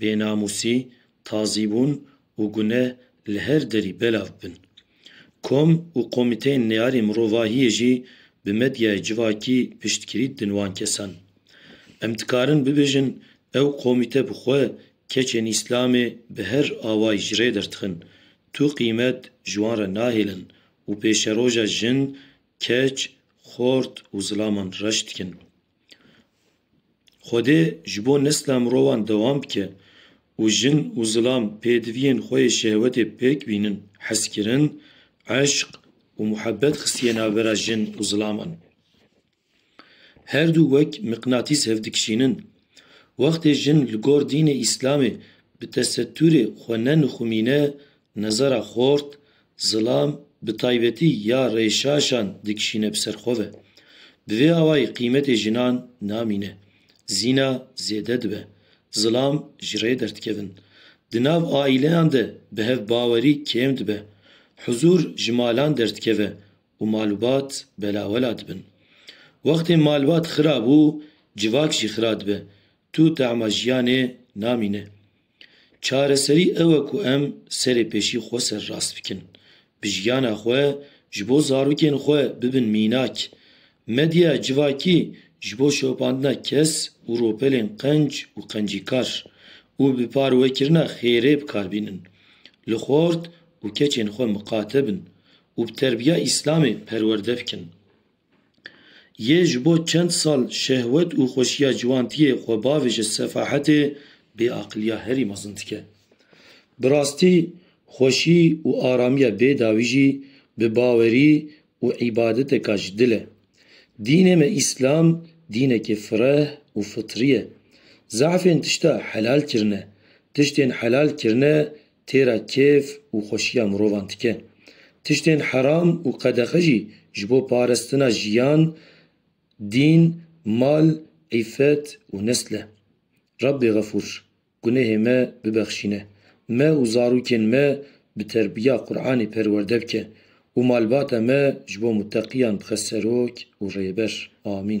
Bênamûsî, tazîbûn û guneh li her derî belav bin. Kom û komîteyên neyarên mirovahiyê jî bi medyayê civakî piştgirî didin wan kesan. Em dikarin bibêjin ew komîte bi xwe keçên Îslamê bi her awayî ji rê dertixin, tu qîmet ji wan re nahêlin û pêşeroja jin, keç, xort û zilaman reş dikin. Xwedê ji bo nesla mirovan dewam bike û jin û zilam pêdiviyên xwe yê şehwetê pêk bînin, hezkirin, eşq û muhebet xistiye navbera jin û zilaman. Her du wek miqnatîs hevdikişînin. Wextê jin li gor dînê îslamê bi tesetûrê xwe ne nixumîne Nezara xort, zilam bi taybetî ya rêşaşan dikişîne bi ser xwe ve. Bi vê awayî qîmetê jinan namîne. Zîna zêde dibe. Zilam ji rê derdikevin. Di nav aîleyan de bihevbawerî kêm dibe. Huzûr ji malan derdikeve û malbat belawela dibin. Wextê malbat xira bû, civak jî xira dibe. Tu tema jiyanê namîne. Çareserî ew e ku em serê pêşî xwe serrast bikin. Bi jiyana xwe ji bo zarokên xwe bibin mînak. Medyaya civakî ji bo şopandina kes û ropelên qenc û qencîkar û bi parwekirina xêrê bi kar bînin. Li xort û keçên xwe miqate bin û bi terbiya îslamê perwerde bikin. Yê ji bo çend sal şehwet û xweşiya ciwantiyê xwe bavê ji sefahetê, bêaqiliya herî mezin dike. Bi rastî xweşî û aramiya bêdawî jî bi bawerî û îbadeteka ji dil e. Dînê me Îslam dînekî fireh û fitrî ye. Zehfên tişta helal kirine, tiştên helal kirine Têra kêf û xweşiya mirovan dike. Tiştên heram û qedexe jî ji bo parestina jiyan, dîn, mal, îffet û nesl e. Rabbê Xefûr, gunehê me bibexşîne. Me û zarokên me bi terbiya Quranê perwerde bike û malbata me ji bo muteqiyan bixe serok û rêber. Amîn.